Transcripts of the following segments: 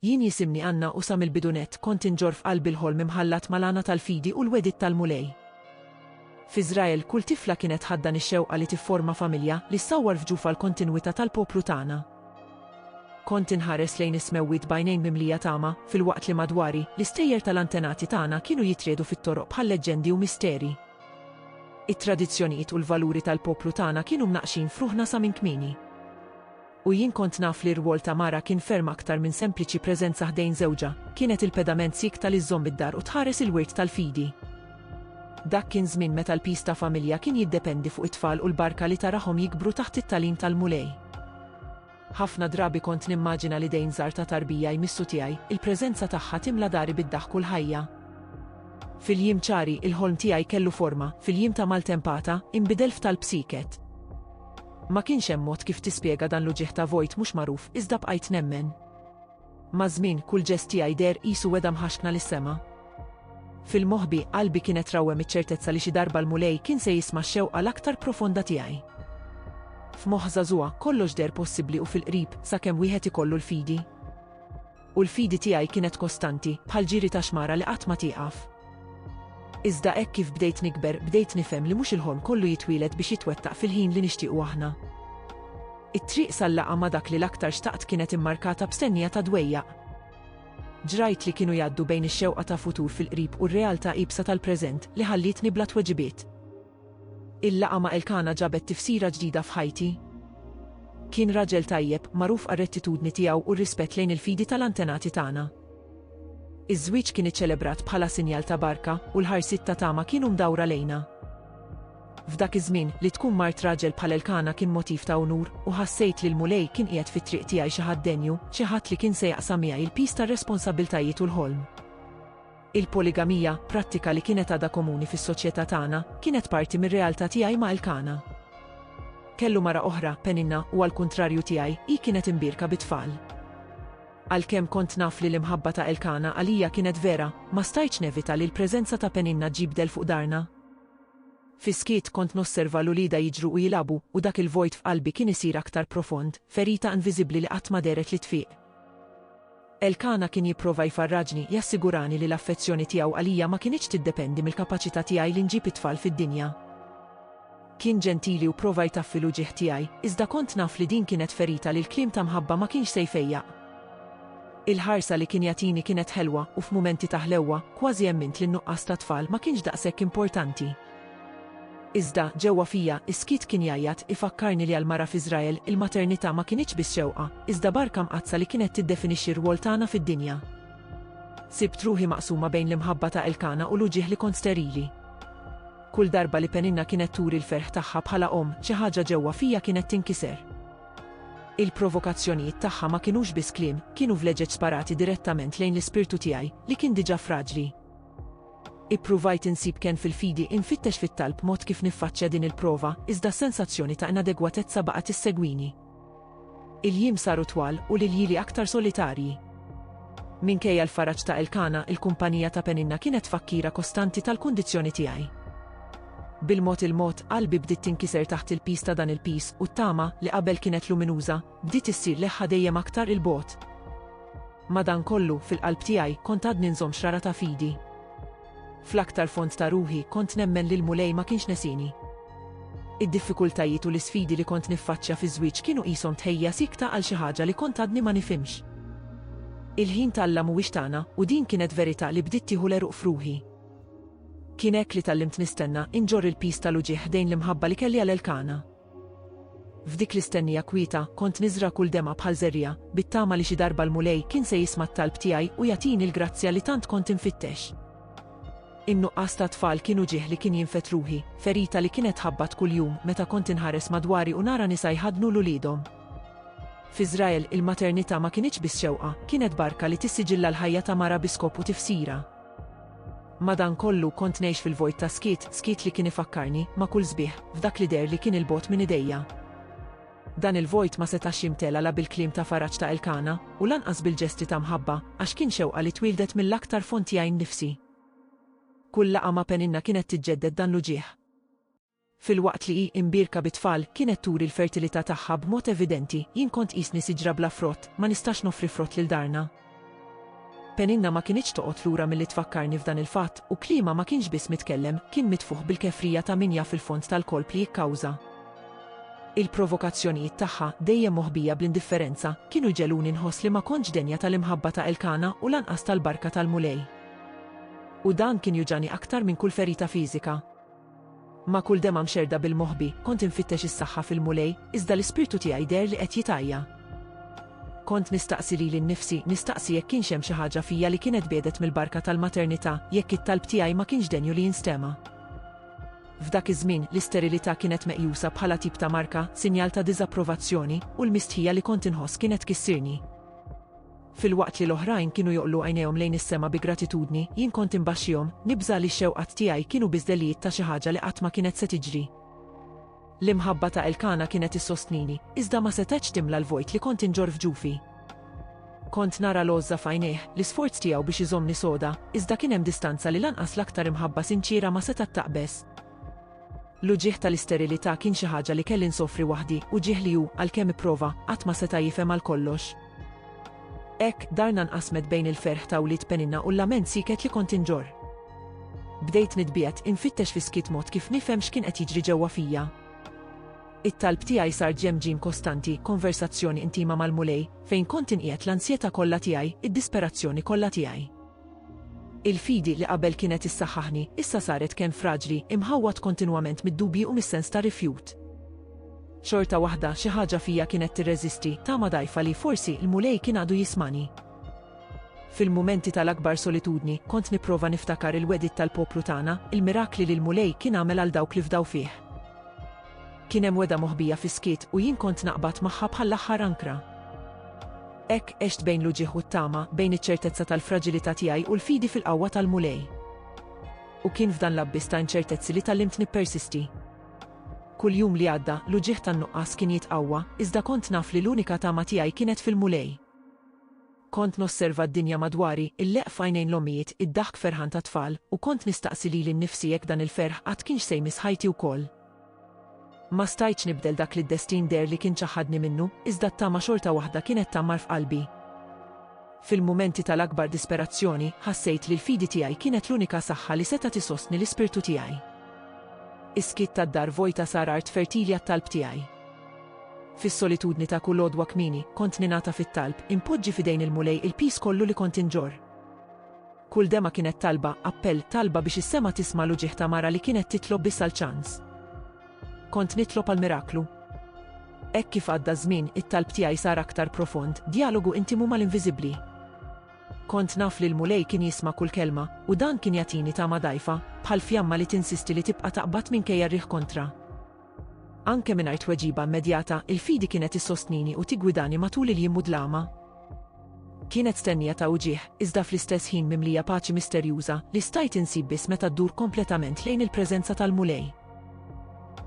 Jien jisimni Anna u sa mill-bidunett kont inġorr f'qalbi l-ħolm imħallat mal-għana tal-fidi u l-wegħdiet tal-Mulej. F'Iżrael, kull tifla kienet tħaddan ix-xewqa li tifforma familja li ssawwar f'ġufha l-kontinwità tal-poplu tagħna. Kont inħares lejn is-smewwiet b'għajnejn mimlija tama, filwaqt li madwari, l-istejjer tal-antenati tagħna kienu jitriegħdu fit-toroq bħal leġġendi u misteri. It-tradizzjonijiet u l-valuri tal-poplu tagħna kienu mnaqqxin f'ruħna sa minn kmieni. u jien kont naf li r-rwol ta' mara kien ferm aktar minn sempliċi preżenza ħdejn żewġha, kienet il-pedament siekta li żżomm id-dar u tħares il-wirt tal-fidi. Dak kien żmien meta l-piż ta' familja kien jiddependi fuq it-tfal u l-barka li tarahom jikbru taħt it-tagħlim tal-Mulej. Ħafna drabi kont nimmaġina l-idejn żgħar ta' tarbija jmissu tiegħi, il-preżenza tagħha timla dari bid-daħk u l-ħajja. Fil-jiem ċari, il-ħolm tiegħi kellu forma, fil-jiem ta' maltempata, inbidel f'talb sieket. Ma kienx hemm mod kif tispjega dan l-uġigħ ta' vojt mhux magħruf iżda bqajt nemmen. Maż-żmien, kull ġest tiegħi deher qisu wegħda mħaxkna lis-sema. Fil-moħbi, qalbi kienet rawwem iċ-ċertezza li xi darba l-Mulej kien se jisma' x-xewqa l-aktar profonda tiegħi. F'moħħ żagħżugħa, kollox deher possibbli u fil-qrib, sakemm wieħed ikollu l-fidi. U l-fidi tiegħi kienet kostanti, bħal ġiri ta' xmara li qatt ma tieqaf. Iżda hekk kif bdejt nikber, bdejt nifhem li mhux il-ħolm kollu jitwieled biex jitwettaq fil-ħin li nixtiequ aħna. It-triq sal-laqgħa ma' dak li l-aktar xtaqt kienet immarkata b'stennija ta' dwejjaq. Ġrajt li kienu jgħaddu bejn ix-xewqa ta' futur fil-qrib u r-realtà iebsa tal-preżent li ħallietni bla tweġibiet. Il-laqgħa ma' Elkana ġabet tifsira ġdida f'ħajti. Kien raġel tajjeb, magħruf għar-rettitudni tiegħu u r-rispett lejn il-fidi tal-antenati tagħna. Iż-żwieġ kien iċċelebrat bħala sinjal ta' barka, u l-ħarsiet ta' tama kienu mdawra lejna. F'dak iż-żmien, li tkun mart raġel bħal Elkana kien motiv ta' unur, u ħassejt li l-Mulej kien qiegħed fit-triq tiegħi xi ħadd denju, xi ħadd li kien se jaqsam miegħi l-piż tar-responsabbiltajiet u l-ħolm. Il-poligamija, prattika li kienet għadha komuni fis-soċjetà tagħna, kienet parti mir-realtà tiegħi ma' Elkana. Kellu mara oħra, Peninna, u għall-kuntrarju tiegħi, hi kienet imbierka bi tfal. Għalkemm kont naf li l-imħabba ta' Elkana għalija kienet vera, ma stajtx nevita li l-preżenza ta' Peninna ġġib dell fuq darna. Fis-skiet kont nosserva 'l uliedha jiġru u jilagħbu, u dak il-vojt f'qalbi kien isir aktar profond, ferita inviżibbli li qatt ma dehret li tfieq. Elkana kien jipprova jfarraġni, jassigurani li l-affezzjoni tiegħu għalija ma kinitx tiddependi mill-kapaċità tiegħi li nġib it-tfal fid-dinja. Kien ġentili u pprova jtaffi l-uġigħ tiegħi, iżda kont naf li din kienet ferita li l-kliem ta' mħabba ma kienx se jfejjaq. Il-ħarsa li kien jagħtini kienet ħelwa u f'mumenti ta' ħlewwa, kważi emmint li n-nuqqas ta' tfal ma kienx daqshekk importanti. Iżda, ġewwa fija, is-skiet kien jgħajjat, ifakkarni li għall-mara f'Iżrael, il-maternità ma kinitx biss xewqa, iżda barka mqaddsa li kienet tiddefinixxi r-rwol tagħna fid-dinja. Sibt ruħi maqsuma bejn l-imħabba ta' Elkana u l-uġigħ li kont sterili. Kull darba li Peninna kienet turi l-ferħ tagħha bħala omm, xi ħaġa ġewwa fija kienet tinkiser. Il-provokazzjonijiet tagħha ma kinux biss kliem, kienu vleġeġ sparati direttament lejn l-ispirtu tiegħi, li kien diġà fraġli. Ippruvajt insib kenn fil-fidi, infittex fit-talb mod kif niffaċċja din il-prova, iżda s-sensazzjoni ta' inadegwatezza baqgħet tissegwini. Il-jiem saru twal u l-iljieli aktar solitarji. Minkejja l-faraġ ta' Elkana, il-kumpanija ta' Peninna kienet tfakkira kostanti tal-kundizzjoni tiegħi. Bil-mod il-mod, qalbi bdiet tinkiser taħt il-piż ta' dan il-piż, u t-tama, li qabel kienet luminuża, Bdiet issir leħħa dejjem aktar 'il bogħod. Madankollu, fil-qalb tiegħi, kont għadni nżomm xrara ta' fidi. Fl-aktar fond ta' ruħi, kont nemmen li l-Mulej ma kienx nesieni. Id-diffikultajiet u l-isfidi li kont niffaċċja fiż-żwieġ kienu qishom tħejjija siekta għal xi ħaġa li kont għadni ma nifhimx. Il-ħin t'Alla mhuwiex tagħna, u din kienet verità li bdiet tieħu l-għeruq f'ruħi. Kien hekk li tgħallimt nistenna, inġorr il-piż tal-uġigħ ħdejn l-imħabba li kelli għal Elkana. F'dik l-istennija kwieta, kont niżra' kull demgħa bħal żerriegħa, bit-tama li xi darba l-Mulej kien se jisma' t-talb tiegħi u jagħtini l-grazzja li tant kont infittex. In-nuqqas ta' tfal kien uġigħ li kien jinfed ruħi, ferita li kienet tħabbat kuljum meta kont inħares madwari u nara nisa jħaddnu 'l uliedhom. F'Iżrael, il-maternità ma kinitx biss xewqa, kienet barka li tissiġilla l-ħajja ta' mara bi skop u tifsira. Madankollu, kont ngħix fil-vojt ta' skiet, skiet li kien ifakkarni, ma' kull sbieħ, f'dak li deher li kien 'il bogħod minn idejja. Dan il-vojt ma setax jimtela la bil-kliem ta' faraġ ta' Elkana, u lanqas bil-ġesti ta' mħabba, għax kien xewqa li twieldet mill-aktar fond tiegħi nnifsi. Kull laqgħa ma' Peninna kienet tiġġedded dan l-uġigħ. Filwaqt li hi imbierka bi tfal, kienet turi l-fertilità tagħha b'mod evidenti, Jien kont qisni siġra bla frott, ma nistax noffri frott lil darna. Peninna ma kinitx toqgħod lura milli tfakkarni f'dan il-fatt, u kliemha ma kienx biss mitkellem, kien mitfugħ bil-kefrija ta' min jaf il-fond tal-kolp li jikkawża. Il-provokazzjonijiet tagħha, dejjem moħbija bl-indifferenza, kienu jġegħluni nħoss li ma kontx denja tal-imħabba ta' Elkana u lanqas tal-barka tal-Mulej. U dan kien juġagħni aktar minn kull ferita fiżika. Ma' kull demgħa mxerrda bil-moħbi, kont infittex is-saħħa fil-Mulej, iżda l-ispirtu tiegħi deher li qed jitgħajja. Kont nistaqsi lili nnifsi, nistaqsi jekk kienx hemm xi ħaġa fija li kienet biegħdet mill-barka tal-maternità, jekk it-talb tiegħi ma kienx denju li jinstema'. F'dak iż-żmien, l-isterilità kienet meqjusa bħala tip ta' marka, sinjal ta' diżapprovazzjoni, u l-mistħija li kont inħoss kienet tkissirni. Filwaqt li l-oħrajn kienu joqlu għajnejhom lejn is-sema bi gratitudni, jien kont imbaxxihom, nibża' li x-xewqat tiegħi kienu biss delijiet ta' xi ħaġa li qatt ma kienet se tiġri. L-imħabba ta' Elkana kienet issostnini, iżda ma setgħetx timla l-vojt li kont inġorr f'ġufi. Kont nara l-għożża f'għajnejh, l-isforz tiegħu biex iżommni soda, iżda kien hemm distanza li lanqas l-aktar imħabba sinċiera ma setgħet taqbeż. L-uġigħ tal-isterilità kien xi ħaġa li kelli nsofri waħdi, uġigħ li hu, għalkemm ipprova, qatt ma seta' jifhem għal kollox. Hekk, darna nqasmet bejn il-ferħ ta' wlied Peninna u l-lament sieket li kont inġorr. Bdejt nitbiegħed, infittex fis-skiet mod kif nifhem x'kien qed jiġri ġewwa fija. It-talb tiegħi sar ġemġim kostanti, konversazzjoni intima mal-Mulej, fejn kont inqiegħed l-ansjetà kollha tiegħi, id-disperazzjoni kollha tiegħi. Il-fidi li qabel kienet issaħħaħni, issa saret kenn fraġli, imħawwad kontinwament mid-dubji u mis-sens ta' rifjut. Xorta waħda, xi ħaġa fija kienet tirreżisti, tama dgħajfa li, forsi, l-Mulej kien għadu jismagħni. Fil-mumenti tal-akbar solitudni, kont nipprova niftakar il-wegħdiet tal-poplu tagħna, il-mirakli li l-Mulej kien għamel għal dawk li fdaw fih. Kien hemm wegħda moħbija fis-skiet u jien kont naqbad magħha bħall-aħħar ankra. Hekk għext bejn l-uġigħ u t-tama, bejn iċ-ċertezza tal-fraġilità tiegħi u l-fidi fil-qawwa tal-Mulej. U kien f'dan l-abbiss ta' inċertezzi li tgħallimt nippersisti. Kull jum li għadda, l-uġigħ tan-nuqqas kien jitqawwa, iżda kont naf li l-unika tama tiegħi kienet fil-Mulej. Kont nosserva d-dinja madwari, il-leqq f'għajnejn l-ommijiet, id-daħk ferħan tat-tfal, u kont nistaqsi lili nnifsi jekk dan il-ferħ qatt kienx se jmiss ħajti wkoll. Ma stajtx nibdel dak li d-destin deher li kien ċaħħadni minnu, iżda t-tama xorta waħda kienet tgħammar f'qalbi. Fil-mumenti tal-akbar disperazzjoni, ħassejt li l-fidi tiegħi kienet l-unika saħħa li setgħet isostni l-ispirtu tiegħi. Is-skiet tad-dar vojta sar art fertili għat-talb tiegħi. Fis-solitudni ta' kull għodwa kmieni, kont ningħata fit-talb, inpoġġi f'idejn il-Mulej il-piż kollu li kont inġorr. Kull dema kienet talba, appell, talba biex is-sema tisma' l-uġigħ ta' mara li kienet titlob biss għal ċans. Kont nitlob għal miraklu. Hekk kif għadda ż-żmien, it-talb tiegħi sar aktar profond, djalogu intimu mal-inviżibbli. Kont naf li l-Mulej kien jisma' kull kelma, u dan kien jagħtini tama dgħajfa, bħal fjamma li tinsisti li tibqa' taqbad minkejja r-riħ kontra. Anke mingħajr tweġiba immedjata, il-fidi kienet issostnini u tiggwidani matul il-jiem mudlama. Kienet stennija ta' uġigħ, iżda fl-istess ħin mimlija paċi misterjuża, li stajt insib biss meta ddur kompletament lejn il-preżenza tal-Mulej.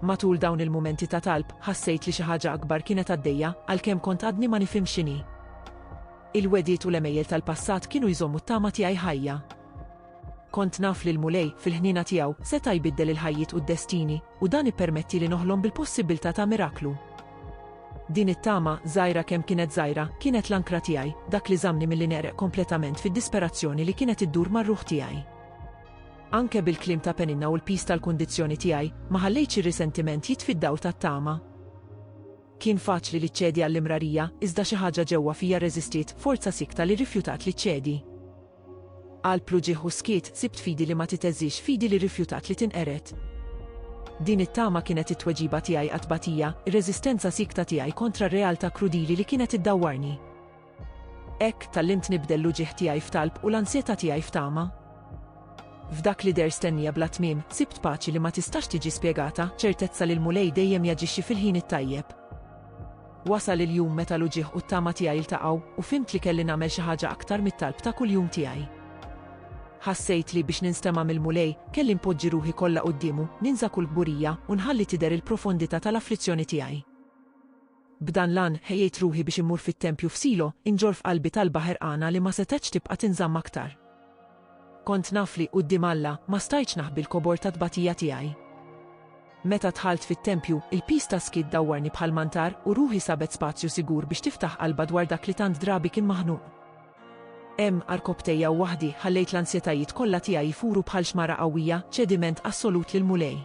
Matul dawn il-mumenti ta' talb, ħassejt li xi ħaġa akbar kienet għaddejja, għalkemm kont għadni ma nifhimx x'inhi. Il-wegħdiet u l-għemejjel tal-passat kienu jżommu t-tama tiegħi ħajja. Kont naf li l-Mulej, fil-ħniena tiegħu, seta' jbiddel il-ħajjiet u d-destini, u dan ippermettieli noħlom bil-possibbiltà ta' miraklu. Din it-tama, żgħira kemm kienet żgħira, kienet l-ankra tiegħi, dak li żammni milli negħreq kompletament fid-disperazzjoni li kienet iddur mar-ruħ tiegħi. Anke bil-kliem ta' Peninna u l-piż tal-kundizzjoni tiegħi, ma ħallejtx ir-risentiment jitfi d-dawl tat-tama. Kien faċli li ċċedi għall-imrarija, iżda xi ħaġa ġewwa fija rreżistiet, forza sikta li rrifjutat li ċċedi. Qalb pluġieħ u skiet sibt fidi li ma titeżżiex, fidi li rrifjutat li tinqered. Din it-tama kienet it-tweġiba tiegħi għat-tbatija, ir-reżistenza siekta tiegħi kontra r-realtà krudili li kienet iddawwarni. Hekk, tgħallimt nibdel l-uġigħ tiegħi f'talb u l-ansjetà tiegħi f'tama. F'dak li deher stennija bla tmiem, sibt paċi li ma tistax tiġi spjegata, ċertezza li l-Mulej dejjem jaġixxi fil-ħin it-tajjeb. Wasal il-jum meta l-uġigħ u t-tama tiegħi ltaqgħu u fhimt li kelli nagħmel xi ħaġa aktar mit-talb ta' kuljum tiegħi. Ħassejt li, biex ninstema' mill-Mulej, kelli npoġġi ruħi kollha quddiemu, ninsa kull kburija, u nħalli tidher il-profondità tal-afflizzjoni tiegħi. B'dan l-għan, ħejjejt ruħi biex immur fit-tempju f'Silo, inġorr f'qalbi talba ħerqana li ma setgħetx tibqa' tinżamm aktar. Kont naf li, quddiem Alla, ma stajtx naħbi l-kobor tat-tbatija tiegħi. Meta dħalt fit-tempju, il-piż tas-skiet dawwarni bħal mantar u ruħi sabet spazju sigur biex tiftaħ qalbha dwar dak li tant drabi kien maħnuq. Hemm, għal rkopptejja u waħdi, ħallejt l-ansjetajiet kollha tiegħi jfuru bħal xmara qawwija, ċediment assolut lill-Mulej.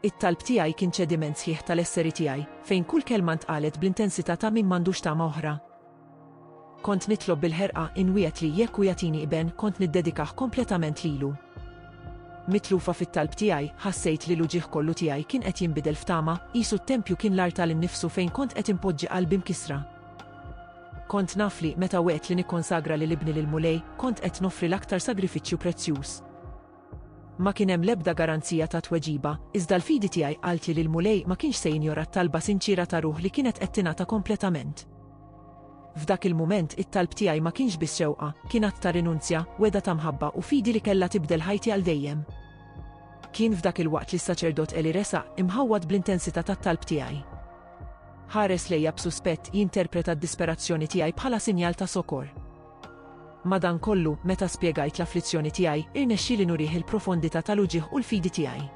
It-talb tiegħi kien ċediment sħiħ tal-esseri tiegħi, fejn kull kelma ntqalet bl-intensità ta' min m'għandux tama oħra. Kont nitlob bil-ħerqa, inwiegħed li, jekk hu jagħtini iben, kont niddedikah kompletament lilu. Mitlufa fit-talb tiegħi, ħassejt li l-uġigħ kollu tiegħi kien qed jinbidel f'tama, qisu t-tempju kien l-artal innifsu fejn kont qed inpoġġi qalbi mkissra. Kont naf li, meta wegħedt li nikkonsagra lil ibni lill-Mulej, kont qed noffri l-aktar sagrifiċċju prezzjuż. Ma kien hemm l-ebda garanzija ta' tweġiba, iżda l-fidi tiegħi qaltli li l-Mulej ma kienx se jinjora t-talba sinċiera ta' ruħ li kienet qed tingħata kompletament. F'dak il-mument, it-talb tiegħi ma kienx biss xewqa, kien att ta' rinunzja, wegħda ta' mħabba u fidi li kellha tibdel ħajti għal dejjem. Kien f'dak il-waqt li s-saċerdot Eli resaq, imħawwad bl-intensità tat-talb tiegħi. Ħares lejja b'suspett, jinterpreta d-disperazzjoni tiegħi bħala sinjal ta' sokor. Madankollu, meta spjegajt l-afflizzjoni tiegħi, irnexxieli nurih il-profondità tal-uġigħ u l-fidi tiegħi.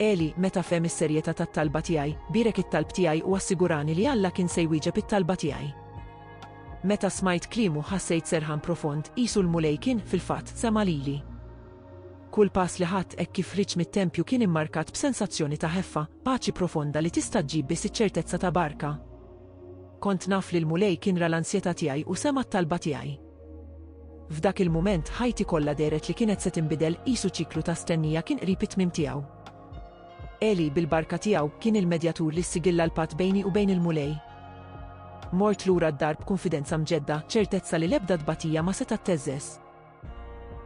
Eli, meta fehem is-serjetà tat-talba tiegħi, bierek it-talb tiegħi u assigurani li Alla kien se jwieġeb it-talba tiegħi. Meta smajt kliemu ħassejt serħan profond, qisu l-Mulej kien, fil-fatt, sema' lili. Kull pass li ħadt hekk kif ħriġt mit-tempju kien immarkat b'sensazzjoni ta' ħeffa, paċi profonda li tista' ġġib biss iċ-ċertezza ta' barka. Kont naf li l-Mulej kien ra l-ansjetà tiegħi u sema' t-talba tiegħi. F'dak il-mument, ħajti kollha dehret li kienet se tinbidel, qisu ċiklu ta' stennija kien qrib it-tmiem tiegħu. Għeli, bil-barka tiegħu, kien il-medjatur li ssigilla l-patt bejni u bejn il-Mulej. Mort lura d-dar b'kunfidenza mġedda, ċertezza li l-ebda tbatija ma setgħet theżżeż.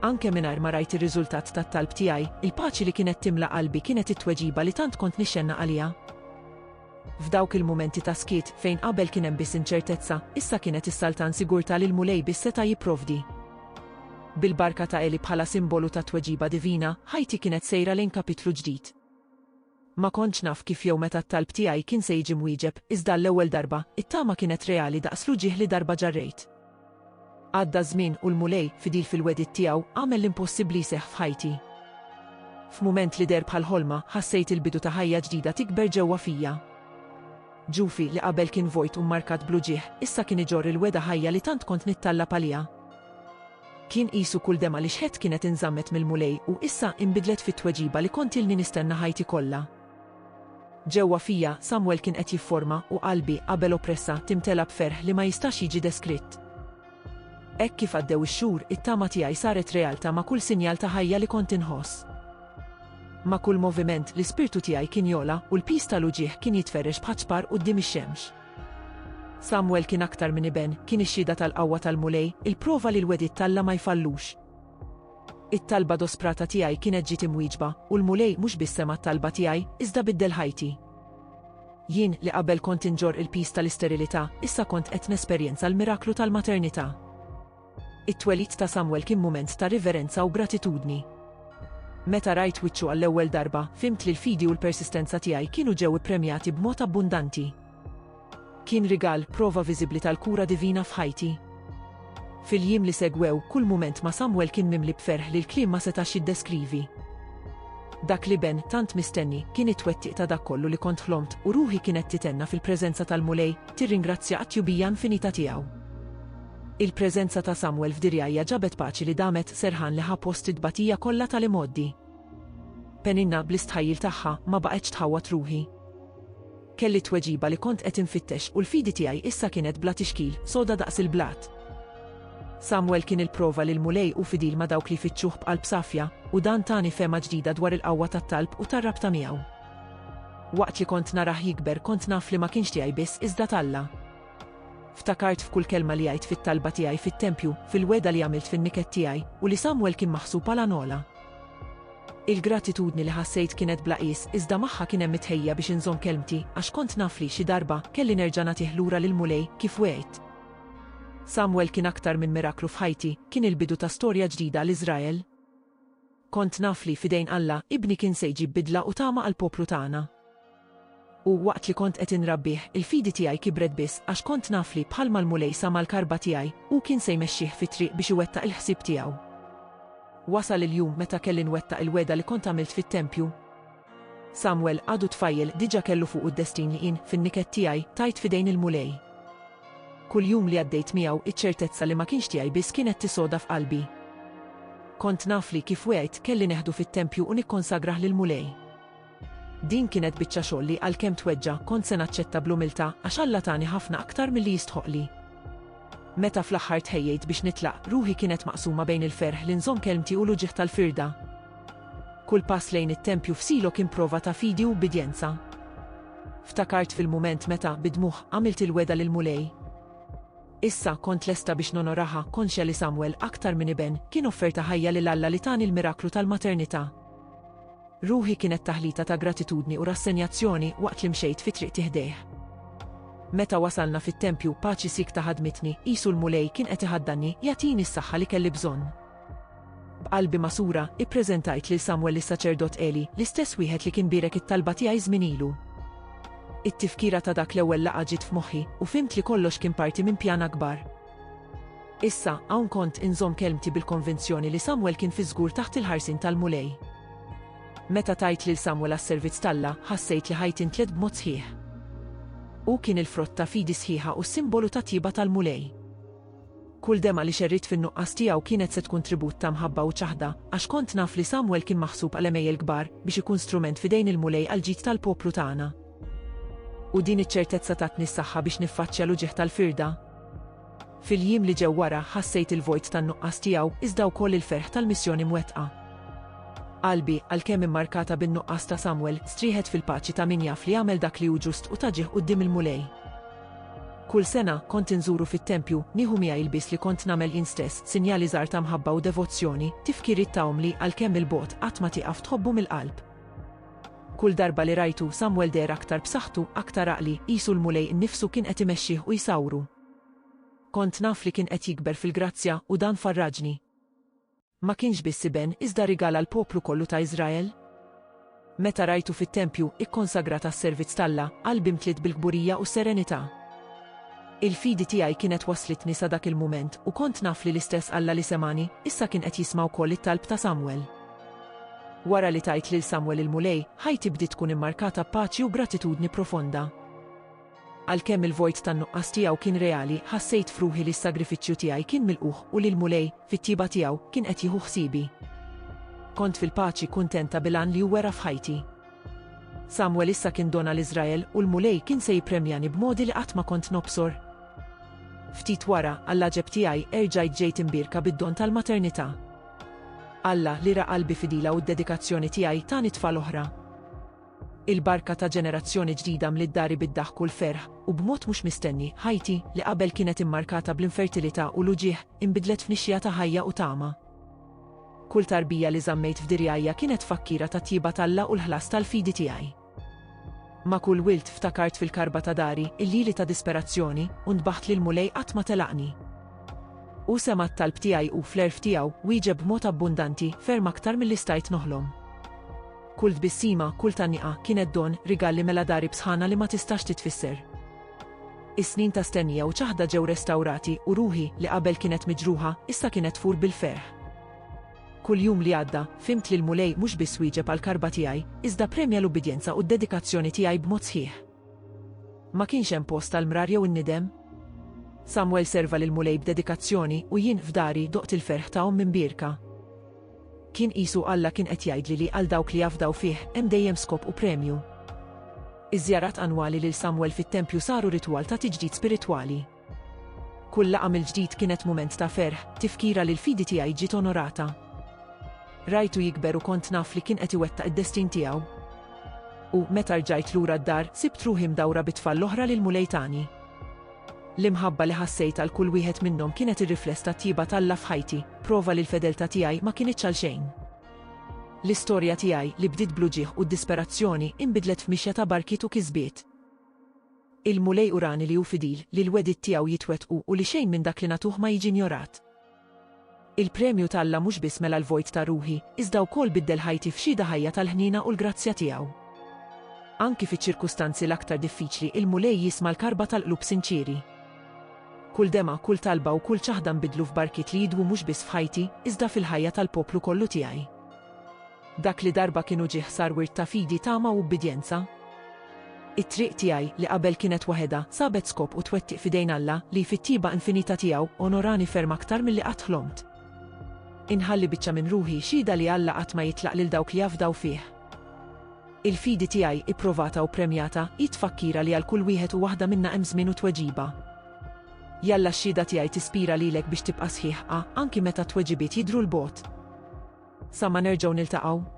Anke mingħajr ma rajt ir-riżultat tat-talb tiegħi, il-paċi li kienet timla qalbi kienet it-tweġiba li tant kont nixxennaq għaliha. F'dawk il-mumenti ta' skiet, fejn qabel kien hemm biss inċertezza, issa kienet issaltan sigurtà li l-Mulej biss seta' jipprovdi. Bil-barka ta' Eli bħala simbolu tat-tweġiba divina, ħajti kienet sejra lejn kapitlu ġdid. Ma kontx naf kif jew meta t-talb tiegħi kien se jiġi mwieġeb, iżda għall-ewwel darba, it-tama kienet reali daqs l-uġigħ li darba ġarrejt. Għadda ż-żmien u l-Mulej, fidil fil-wegħdiet tiegħu, għamel l-impossibbli jseħħ f'ħajti. F'mument li deher bħal ħolma, ħassejt il-bidu ta' ħajja ġdida tikber ġewwa fija. Ġufi, li qabel kien vojt u mmarkat bl-uġigħ, issa kien iġorr il-wegħda ħajja li tant kont nittallab għaliha. Kien qisu kull demgħa li xħedt kienet inżammet mill-Mulej u issa inbidlet fit-tweġiba li kont ilni nistenna ħajti kollha. Ġewwa fija, Samwel kien qed jifforma u qalbi, qabel oppressa, timtela b'ferħ li ma jistax jiġi deskritt. Hekk kif għaddew ix-xhur, it-tama tiegħi saret realtà ma' kull sinjal ta' ħajja li kont inħoss. Ma' kull moviment, l-ispirtu tiegħi kien jogħla u l-piż tal-uġigħ kien jitferrex bħaċ-ċpar quddiem ix-xemx. Samwel kien aktar minn iben, kien ix-xhieda tal-qawwa tal-Mulej, il-prova li l-wegħdiet t'Alla ma jfallux. It-talba dosprata tiegħi kienet ġiet imwieġba, u l-Mulej mhux biss sema' t-talba tiegħi, iżda biddel ħajti. Jien, li qabel kont inġorr il-piż tal-isterilità, issa kont qed nesperjenza l-miraklu tal-maternità. It-twelid ta' Samwel kien mument ta' riverenza u gratitudni. Meta rajt wiċċu għall-ewwel darba, fhimt li l-fidi u l-persistenza tiegħi kienu ġew ippremjati b'mod abbundanti. Kien rigal, prova viżibbli tal-kura divina f'ħajti. Fil-jiem li segwew, kull mument ma' Samwel kien mimli b'ferħ li l-kliem ma setax jiddeskrivi. Dak l-iben, tant mistenni, kien it-twettiq ta' dak kollu li kont ħlomt, u ruħi kienet titenna fil-preżenza tal-Mulej, tirringrazzja għat-tjubija infinita tiegħu. Il-preżenza ta' Samwel f'Dirjajja ġabet paċi li damet serħan li ħa post it-tbatija kollha tal-imgħoddi. Peninna, bl-istħajjil tagħha, ma baqgħetx tħawwad ruħi. Kelli t-tweġiba li kont qed infittex u l-fidi tiegħi issa kienet bla tixkil, soda daqs il-blat. Samwel kien il-prova li l-Mulej hu fidil ma' dawk li jfittxuh b'qalb safja, u dan tani fehma ġdida dwar il-qawwa tat-talb u tar-rabta miegħu. Waqt li kont narah jikber kont naf li ma kienx tiegħi biss iżda t'Alla. Ftakart f'kull kelma li għidt fit-talba tiegħi fit-tempju, fil-wegħda li għamilt fin-niket tiegħi, u li Samwel kien maħsub għal għanola. Il-gratitudni li ħassejt kienet bla qies, iżda magħha kien hemm it-tħejja biex inżomm kelmti, għax kont naf li, xi darba, kelli nerġa' nagħtih lura lill-Mulej, kif wegħidt. Samwel kien aktar minn miraklu f'ħajti, kien il-bidu ta' storja ġdida għal Iżrael. Kont naf li, f'idejn Alla, ibni kien se jġib bidla u tama għall-poplu tagħna. U, waqt li kont qed inrabbih, il-fidi tiegħi kibret biss għax kont naf li, bħalma l-Mulej sama l-karba tiegħi, hu kien se jmexxih fit-triq biex iwettaq il-ħsieb tiegħu. Wasal il-jum meta kelli nwettaq il-wegħda li kont għamilt fit-tempju. Samwel għadu tfajjel diġà kellu fuqu d-destin li jien, fin-niket tiegħi, tajt f'idejn il-Mulej. Kull jum li għaddejt miegħu, iċ-ċertezza li ma kienx tiegħi biss kien qed tisoda f'qalbi. Kont naf li, kif wegħidt, kelli neħdu fit-tempju u nikkonsagrah lill-Mulej. Din kienet biċċa xogħol li, għalkemm tweġġa', kont se naċċetta bl-umiltà għax Alla tani ħafna aktar milli jistħoqqli. Meta fl-aħħar tħejjejt biex nitlaq, ruħi kienet maqsuma bejn il-ferħ li nżomm kelmti u l-uġigħ tal-firda. Kull pass lejn it-tempju f'Silo kien prova ta' fidi u ubbidjenza. Ftakart fil-mument meta, bid-dmugħ, għamilt il-wegħda lill-Mulej. Issa, kont lesta biex nonoraha, konxja li Samwel, aktar minn iben, kien offerta ħajja lil Alla li tani l-miraklu tal-maternità. Ruħi kienet taħlita ta' gratitudni u rassenjazzjoni waqt li mxejt fi triqti ħdejh. Meta wasalna fit-tempju, paċi siekta ħadmitni, qisu l-Mulej kien qed iħaddanni, jagħtini s-saħħa li kelli bżonn. B'qalbi magħsura, ippreżentajt lil Samwel lis-saċerdot Għeli, l-istess wieħed li kien bierek it-talba tiegħi żmien ilu. It-tifkira ta' dak l-ewwel laqgħa ġiet f'moħħi, u fhimt li kollox kien parti minn pjan akbar. Issa, hawn kont inżomm kelmti bil-konvinzjoni li Samwel kien fiż-żgur taħt il-ħarsien tal-Mulej. Meta tajt lil Samwel għas-servizz t'Alla, ħassejt li ħajti ntlet b'mod sħiħ. Hu kien il-frott ta' fidi sħiħa u s-simbolu tat-tjieba tal-Mulej. Kull demgħa li xerridt fin-nuqqas tiegħu kienet se tkun tribut ta' mħabba u ċaħda, għax kont naf li Samwel kien maħsub għal għemejjel kbar, biex ikun strument f'idejn il-Mulej għall-ġid tal-poplu tagħna. U din iċ-ċertezza tatni s-saħħa biex niffaċċja l-uġigħ tal-firda. Fil-jiem li ġew wara, ħassejt il-vojt tan-nuqqas tiegħu, iżda wkoll il-ferħ tal-missjoni mwettqa. Qalbi, għalkemm immarkata bin-nuqqas ta' Samwel, strieħet fil-paċi ta' min jaf li għamel dak li hu ġust u ta' ġieħ quddiem il-Mulej. Kull sena, kont inżuru fit-tempju, nieħu miegħi l-bies li kont nagħmel jien stess, sinjali żgħar ta' mħabba u devozzjoni, tifkiriet ta' omm li, għalkemm 'il bogħod, qatt ma tieqaf tħobbu mill-qalb. Kull darba li rajtu, Samwel deher aktar b'saħħtu, aktar għaqli, qisu l-Mulej innifsu kien qed imexxih u jsawwru. Kont naf li kien qed jikber fil-grazzja, u dan farraġni. Ma kienx biss iben, iżda rigal għall-poplu kollu ta' Iżrael. Meta rajtu fit-tempju, ikkonsagrat għas-servizz t'Alla, qalbi mtliet bil-kburija u s-serenità. Il-fidi tiegħi kienet wasslitni sa dak il-mument, u kont naf li l-istess Alla li semgħani, issa kien qed jisma' wkoll it-talb ta' Samwel. Wara li tajt lil Samwel il-Mulej, ħajti bdiet tkun immarkata b'paċi u gratitudni profonda. Għalkemm il-vojt tan-nuqqas tiegħu kien reali, ħassejt f'ruħi li s-sagrifiċċju tiegħi kien milqugħ u li l-Mulej, fit-tjieba tiegħu, kien qed jieħu ħsiebi. Kont fil-paċi kuntenta bil-għan li hu wera f'ħajti. Samwel issa kien don għal Iżrael u l-Mulej kien se jippremjani b'modi li qatt ma kont nobsor. Ftit wara, għall-għaġeb tiegħi, erġajt ġejt imbierka bid-don tal-maternità. Alla, li ra qalbi fidila u d-dedikazzjoni tiegħi, tani tfal oħra. Il-barka ta' ġenerazzjoni ġdida mliet dari bid-daħk u l-ferħ, u b'mod mhux mistenni, ħajti, li qabel kienet immarkata bl-infertilità u l-uġigħ, inbidlet f'nixxiegħa ta' ħajja u tama. Kull tarbija li żammejt f'dirgħajja kienet tfakkira tat-tjieba t'Alla u l-ħlas tal-fidi tiegħi. Ma' kull wild ftakart fil-karba ta' dari, il-lili ta' disperazzjoni, u ntbaħt li l-Mulej qatt ma telaqni. Hu sema' t-talb tiegħi u, fl-għerf tiegħu, wieġeb b'mod abbundanti, ferm aktar milli stajt noħlom. Kull tbissima, kull tgħanniqa, kienet don, rigal li mela dari b'sħana li ma tistax titfisser. Is-snin ta' stennija u ċaħda ġew restawrati u ruħi, li qabel kienet miġruħa, issa kienet tfur bil-ferħ. Kull jum li għadda, fhimt li l-Mulej mhux biss wieġeb għall-karba tiegħi, iżda premja l-ubbidjenza u d-dedikazzjoni tiegħi b'mod sħiħ. Ma kienx hemm post għall-mrar jew in-nidem. Samwel serva lill-Mulej b'dedikazzjoni u jien, f'dari, doqt il-ferħ ta' omm imbierka. Kien qisu Alla kien qed jgħidli li għal dawk li jafdaw fih hemm dejjem skop u premju. Iż-żjarat annwali lil Samwel fit-tempju saru ritwal ta' tiġdid spiritwali. Kull laqgħa mill-ġdid kienet mument ta' ferħ, tifkira li l-fidi tiegħi ġiet onorata. Rajtu jikber u kont naf li kien qed iwettaq id-destin tiegħu. U, meta rġajt lura d-dar, sibt ruħi mdawra bit-tfal l-oħra li l-Mulej tani. L-imħabba li ħassejt għal kull wieħed minnhom kienet ir-rifless tat-tjieba t'Alla f'ħajti, prova li l-fedeltà tiegħi ma kinitx għal xejn. L-istorja tiegħi, li bdiet bl-uġigħ u d-disperazzjoni, inbidlet f'mixja ta' barkiet u kisbiet. Il-Mulej urani li hu fidil, li l-wegħdiet tiegħu jitwettqu u li xejn minn dak li nagħtuh ma jiġi njorat. Il-premju t'Alla mhux biss mela l-vojt ta' ruħi, iżda wkoll biddel ħajti f'xhieda ħajja tal-ħniena u l-grazzja tiegħu. Anki fiċ-ċirkustanzi l-aktar diffiċli il-Mulej jisma' l-karba tal-qlub sinċieri. Kull demgħa, kull talba u kull ċaħda nbiddlu f'barkiet li jidwu mhux biss f'ħajti, iżda fil-ħajja tal-poplu kollu tiegħi. Dak li darba kien uġigħ sar wirt ta' fidi, tama u ubbidjenza. It-triq tiegħi, li qabel kienet waħedha, sabet skop u twettiq f'idejn Alla, li, fit-tjieba infinita tiegħu, onorani ferm aktar milli qatt ħlomt. Inħalli biċċa minn ruħi, xhieda li Alla qatt ma jitlaq lil dawk li jafdaw fih. Il-fidi tiegħi, ipprovata u ppremjata, hi tfakkira li għal kull wieħed u waħda minna hemm żmien u tweġiba. Jalla x-xhieda tiegħi tispira lilek biex tibqa' sħiħ, a, anki meta t-tweġibiet jidhru 'l bogħod. Sa ma nerġgħu niltaqgħu.